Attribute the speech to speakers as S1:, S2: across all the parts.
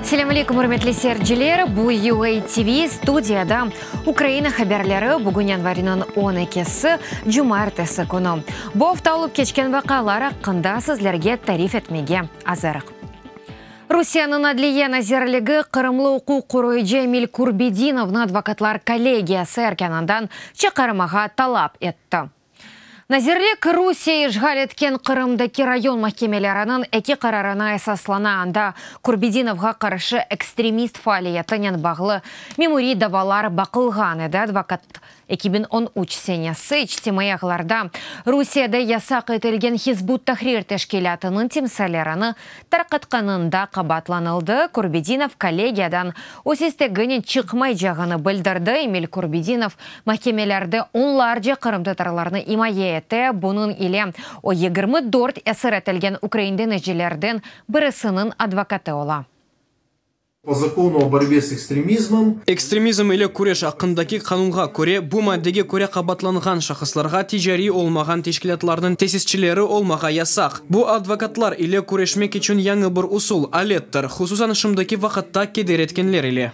S1: Selâm aleykum, ürmetli seyirciler! Bu UA TV, studiyada Ukraina haberleri. Bugün yanvarınıñ on ekisi, cumartesi künü. Bu afta olıp keçken vaqıalar aqqında sizlerge tarif etmege azırıq. Rusiyeniñ Adliye nazirligi qırımlı uquq qoruyıcı Emil Kurbedinovnı advokatlar kollegiyası erkânından çıqarmağa talap etti. Nazirlik Rusiye işğal etken Qırımdaki rayon mahkemeleriniñ eki qararına esaslana, anda Kurbedinovğa qarşı ekstremist faaliyetinen bağlı memuriy davalar baqılğan edi, advokat Eki biñ on üç senesi içtimaiy ağlarda Rusiyede yasaq etilgen Hizb ut-Tahrir teşkilâtınıñ timsallerini tarqatqanında qabaatlanıldı, Kurbedinov kollegiyadan öz isteginen çıqmaycağını bildirdi. Emil Kurbedinov mahkemelerde onlarca qırımtatarlarnı imaye ete, bunıñ ile o yigirmi dört esir etilgen ukrain denizcilerden birisiniñ advokatı ola. O
S2: Zakonu o borbe s ekstremizmom. Ekstremizm ile
S3: küreş aqqındaki qanunğa köre, bu maddege köre qabaatlanğan şahıslarğa ticariy olmağan teşkilâtlarnıñ tesisçileri olmağa yasaq. Bu advokatlar ile küreşmek içün yañı bir usul, alettir, hususan şimdiki vaqıtta keder etkenler ile.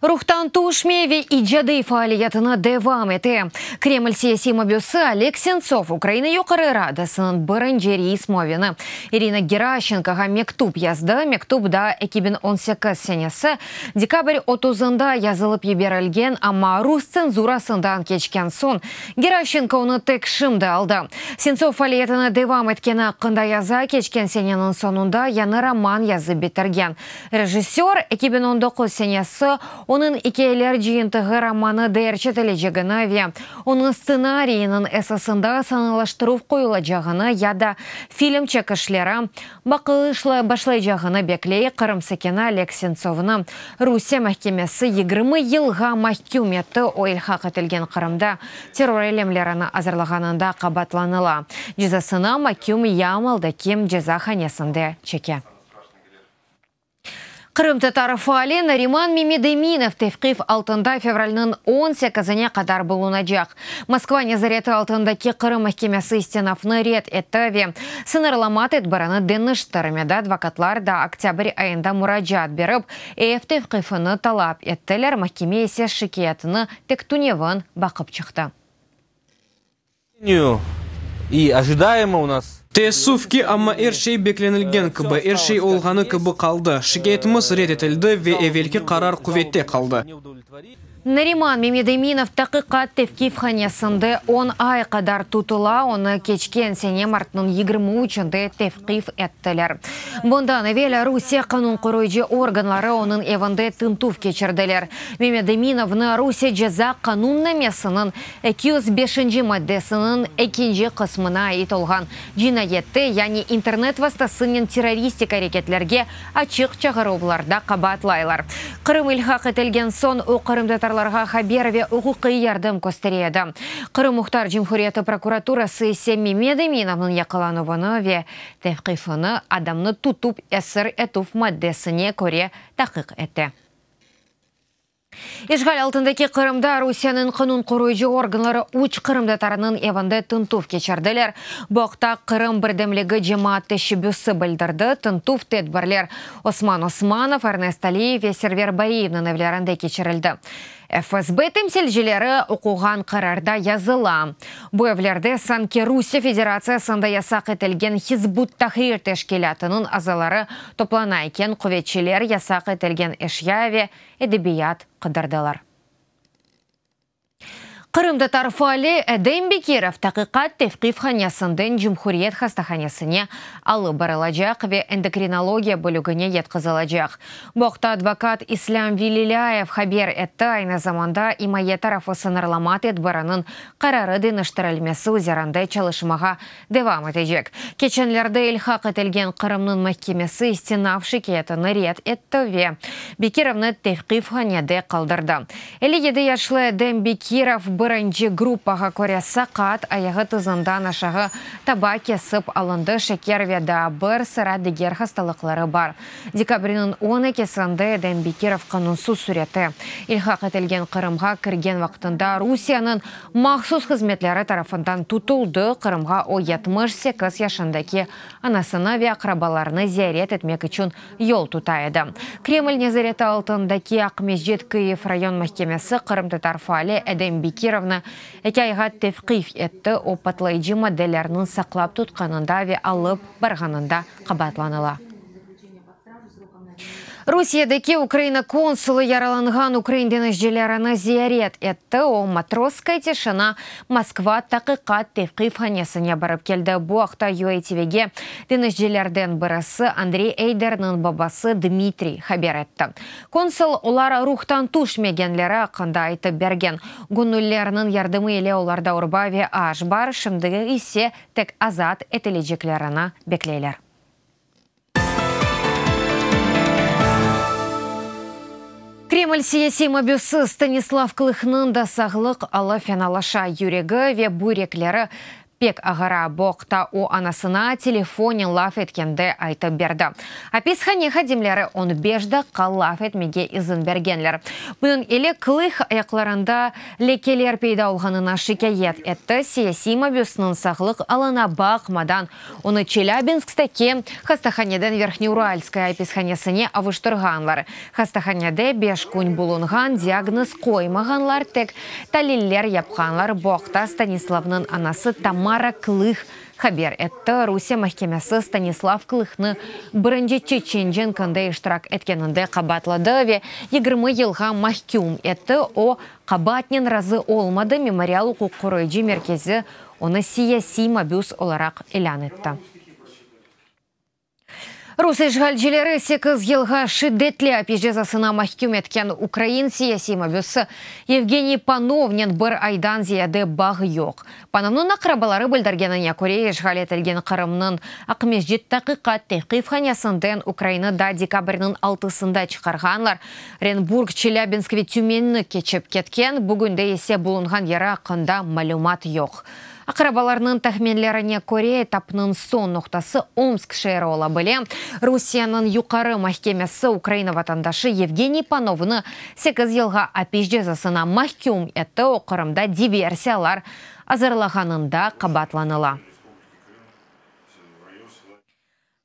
S1: Ruhtan tüşmey ve icadiy faaliyetini devam ete. Kreml siyasiy mabüsi Oleg Sentsov Ukraina Yuqarı Radasınıñ birinci reis muavini İrina Geraşenkoğa mektüp yazdı. Mektüp daa eki biñ on sekiz senesi dekabr otuzında yazılıp yiberilgen, amma rus tsenzurasından keçken soñ Geraşenko onı tek şimdi aldı. Sentsov faaliyetini devam etkeni aqqında yaza, keçken seneniñ soñunda yañı roman yazıp bitirgen Rejissör, eki biñ on doquz senesi, onıñ ikâyeler cıyıntığı romanı deerçetilecegini ve onıñ stsenariyiniñ esasında sanalaştıruv qoyulacağını ya da film çekişleri baqılışla başlaycağını bekley, Qırım sakini Oleg Sentsovnı Rusiye mahkemesi yigirmi yılğa mahküm etti, o, ilhaq etilgen Qırımda terror eylemlerini azırlağanında qabaatlanıla, cezasını Maküm Yamaldaki cezahanesinde çeke. Qırımtatar faali Nariman Memedeminov tevqif altında fevralniñ on sekizine qadar bulunacaq. Moskva nezareti altındaki Qırım mahkemesi istinafnı red etti ve sıñırlama tedbirini deñiştirmedi, advokatlar da oktâbr ayında muracaat berip, ev tevqifini talap ettiler, mahkeme ise şikâyetini pek tünevin baqıp çıqtı.
S4: Teessüf ki, amma
S3: er şey beklenilgen kibi, er şey olğanı kibi qaldı. Şikâyetimiz red etildi ve evelki qarar quvette qaldı. Nariman
S1: Memedeminov taqiqat tevqif hanesinde on ay qadar tutula, onı keçken sene martnıñ yigirmi üçünde tevqif ettiler. Bundan evel Rusiye qanun qoruyıcı organları onıñ evinde tintüv keçirdiler. Memedeminovnı Rusiye ceza qanunnamesiniñ Eki yüz beşinci maddesiniñ ekinci qısmına ait olğan cinayette, yani internet vastasınen terroristik areketlerge açıq çağıruvlarda qabaatlaylar. Qırım ilhaq etilgen soñ o qırımtatarlarğa haber ve uquqiy yardım köstere edi. Qırım Muhtar Cumhuriyeti prokuraturası ise Memed Eminovnıñ yaqalanuvını ve tevqifini adamnı tutup esir etüv maddesine köre taqiq ete. İşğal altındaki Qırımda Rusiyeniñ qanun qoruyıcı organları üç qırımtatarınıñ evinde tıntuv keçirdiler. Bu aqta Qırım birdemligi cemaat teşebbüsi bildirdi, tıntuv tedbirler Osman Osmanov, Ernest Aliyev ve Server Bariyevniñ evlerinde keçirildi. FSB temsilcileri oquğan qararda yazıla, Bu evlerde sanki Rusiye Federatsiyasında yasaq etilgen Hizb ut-Tahrir teşkilâtınıñ azaları toplana eken, quvetçiler yasaq etilgen eşya ve edebiyat qıdırdılar. Qırımtatar faali Edem Bekirov Taqiqat tevqif hanesinden Cumhuriyet hastahanesine alıp barılacaq ve endokrinologiya bölügine yatqızılacaq. Bu aqta advokat İslâm Velilâyev haber etti, aynı zamanda imaye tarafı sıñırlama tedbiriniñ qararı deñiştirilmesi üzerinde çalışmağa devam etecek. Keçenlerde ilhaq etilgen Qırımnıñ mahkemesi istinaf şikâyetini red etti ve Bekirovnı tevqifhanede qaldırdı. Elli yedi yaşlı Edem Bekirov birinci gruppağa köre saqat, ayağı tızından aşağı taba kesip alındı, şeker ve daa bir sıra diger hastalıqları bar. Dekabrniñ on ekisinde Edem Bekirov qanunsız sürette ilhaq etilgen Qırımğa kirgen vaqtında Rusiyanıñ Mahsus hızmetleri tarafından tutuldı, Qırımğa o yetmiş sekiz yaşındaki anasını ve aqrabalarını ziyaret etmek içün yol tuta edi. Kreml nezareti altındaki Aqmescit Kıyiv rayon mahkemesi qırımtatar faali Edem Bekirovnı eki ayğa tevqif etti, o patlayıcı maddelerniñ saqlap tutqanında ve alıp barğanında qabaatlanıla. Rusiyedeki Ukraina konsulı yaralanğan ukrain denizcilerini ziyaret etti, o, Matrosskaya Tişina, Moskva, Taqiqat, Tevqif hanesine barıp keldi. Bu aqta UATVge denizcilerden birisi, Andrey Eyderniñ babası Dmitriy haber etti. Konsul, olar ruhtan tüşmegenleri aqqında aytıp bergen. Göñüllerniñ yardımı ile olarda urba ve aş bar, şimdi ise tek azat etileceklerini bekleyler. Kreml siyasiy mabüsi Stanislav Klıhnıñ da sağlıq alı fenalaşa, yüregi ve büyrekleri pek ağıra, bu aqta o anasına telefonen laf etkende aytıp berdi. Apishane hadimleri on beş daqqa laf etmege izin bergenler. Bunıñ ile Klıh ayaqlarında lekeler peyda olğanına şikâyet etti, siyasiy mabüsniñ sağlıq alına baqmadan Onı Çelâbinskdeki hastahaneden Verhnyouralskaya apishanesine avuştırğanlar. Hastahanede beş kün bulunğan, diagnoz qoymağanlar, tek taliller yapqanlar, bu aqta Stanislavnıñ anası Tamara Klih haber etti. Rusiye mahkemesi Stanislav Klihnı birinci Çeçen cenkinde iştirak etkeninde qabaatladı ve yigirmi yılğa mahküm etti, o, Qabaatnen razı olmadı, Memorial uquq qoruyıcı merkezi onı siyasiy mabüs olaraq ilân etti. Rus işğalcileri sekiz yılğa şiddetli apis cezasına mahküm etken ukrain siyasiy mabüsi Yevgeniy Panovnen bir aydan ziyade bağı yoq, Panovnıñ aqrabaları bildirgenine köre, işğal etilgen Qırımnıñ Aqmescit taqiqat tevqifhanesinden Ukraina da dekabrniñ altısında çıqarğanlar, Renburg, Çelâbinsk ve Tümenni keçip ketken, bugünde ise bulunğan yeri aqqında malümat yoq. Aqrabalarnıñ tahminlerine köre, etapnıñ soñ noqtası Omsk şeeri ola bile. Rusiyeniñ Yuqarı mahkemesi Ukraina vatandaşı Yevgeniy Panovnı Sekiz yılğa apis cezasına mahküm etti, o Qırımda diversiyalar azırlağanında qabaatlanıla.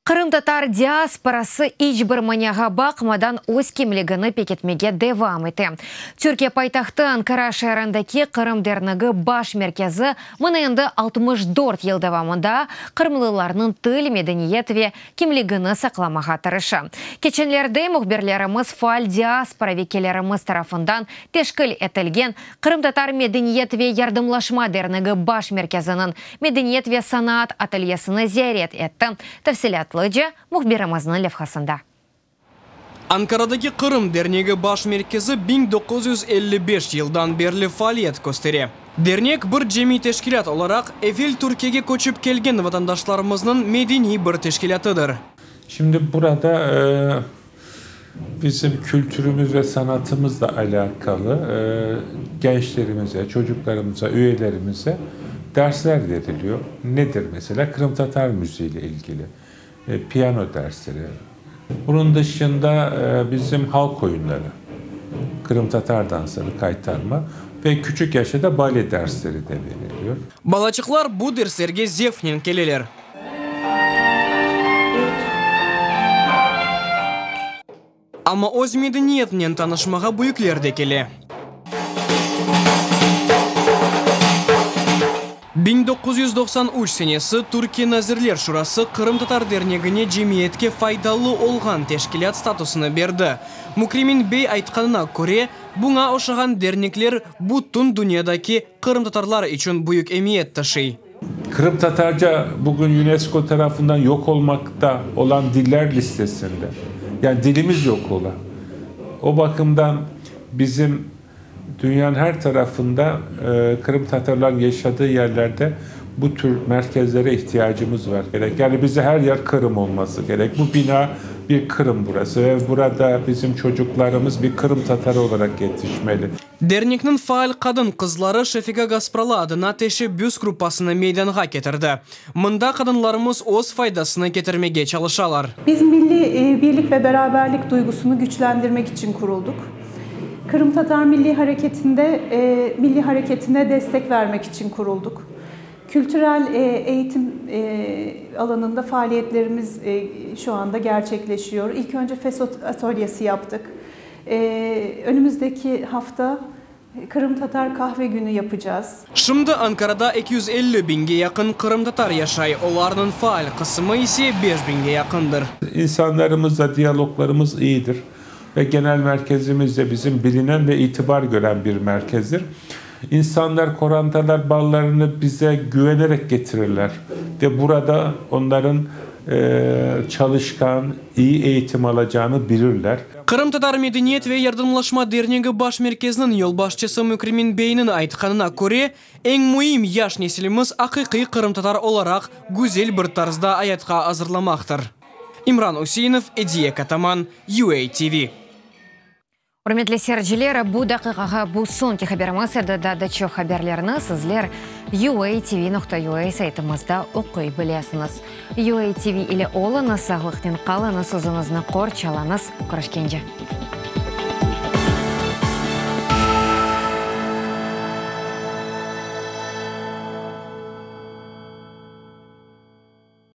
S1: Qırımtatar diasporası iç bir maniağa baqmadan öz kimligini pekitmege devam ete. Türkiye paytahtı Ankara şeerindeki Qırım dernigi baş merkezi, mına endi altmış dört yıl devamında qırımlılarnıñ til, medeniyet ve kimligini saqlamağa tırışa. Keçenlerde mühbirlerimiz faal diaspora vekillerimiz tarafından teşkil etilgen Qırımtatar medeniyet ve yardımlaşma dernigi baş merkeziniñ medeniyet ve sanaat atelyesini ziyaret etti, tafsilâtlıca mühbirimizniñ levhasında.
S3: Ankaradaki Qırım dernegi baş merkezi biñ doquz yüz elli beş yıldan berli faaliyet köstere. Dernek bir cemiy teşkilât olaraq evvel Türkiyege köçip kelgen vatandaşlarımıznıñ medeniy bir teşkilâtıdır. Şimdi
S5: burada bizim kültürümüz ve sanatımızla alâkalı gençlerimize, çocuqlarımıza, üyelerimize dersler veriliyor. Nedir mesela? Qırımtatar müziğiyle ilgili. Piano dersleri. Bunıñ dışında bizim halq oyunları, qırımtatar dansları, qaytarma ve küçük yaşta da bale dersleri de beriliyor. Balacıqlar bu
S3: derslerge zevqnen keleler. Amma öz medeniyetinen tanışmağa büyükler de kele. Biñ doquz yüz doqsan üç senesi Türkiye Nazirler Şurası Qırımtatar Dernegine cemiyetke faydalı olğan teşkilât statusını berdi. Mukremin bey aytqanına köre, buña oşağan dernekler bütün dünyadaki qırımtatarlar içün büyük emiyet taşıy. Qırımtatarca
S5: bugün UNESCO tarafından yoq olmaqta olan diller listesinde. Yani dilimiz yoq ola. O bakımdan bizim dünyanıñ her tarafında qırımtatarlarnıñ yaşadığı yerlerde bu tür merkezlere ihtiyacımız var. Yani bize her yer Qırım olması gerek. Bu bina bir Qırım burası. Burada bizim çocuklarımız bir qırımtatar olaraq yetişmeli. Dernikniñ faal
S3: qadın-qızları Şefiga Gaspralı adına teşebbüs gruppasını meydanğa ketirdi. Mında qadınlarımız öz faydasını ketirmege çalışalar. Biz milliy
S6: birlik ve beraberlik duygusını güçlendirmek içün quruldıq. Qırımtatar milliy hareketinde milliy hareketine destek vermek içün quruldıq. Kültürel eğitim alanında faaliyetlerimiz şu anda gerçekleşiyor. İlk önce FESÖ atölyesi yaptıq. Önümizdeki hafta Qırımtatar Kahve Günü yapacağız. Şimdi Ankarada
S3: eki yüz elli biñge yaqın qırımtatar yaşay, olarnıñ faal qısımı ise beş biñge yaqındır. İnsanlarımızla
S5: diyaloglarımız iyidir ve genel merkezimiz de bizim bilinen ve itibar gören bir merkezdir. İnsanlar, qorantalar balalarını bize güvenerek getirirler ve burada onların çalışqan, iyi eğitim alacağını bilirler. Qırımtatar medeniyet
S3: ve yardımlaşma dernegi baş merkeziniñ yolbaşçısı Mükrimin beyniñ aytqanına köre, eñ müim, yaş nesilimiz aqiqiy qırımtatar olaraq güzel bir tarzda ayatqa azırlamaqtır. İmran Üseinov, Ediye Kataman, UATV.
S1: Ürmetli seyirciler, bu daqiqağa bu soñki haberimiz edi, daa da çoq haberlerni sizler UATV nokta UA saytımızda oquy bilesiñiz. UATV ile oluñız, sağlıqnen qalıñız, özüñizni qorç alıñız. Körüşkence.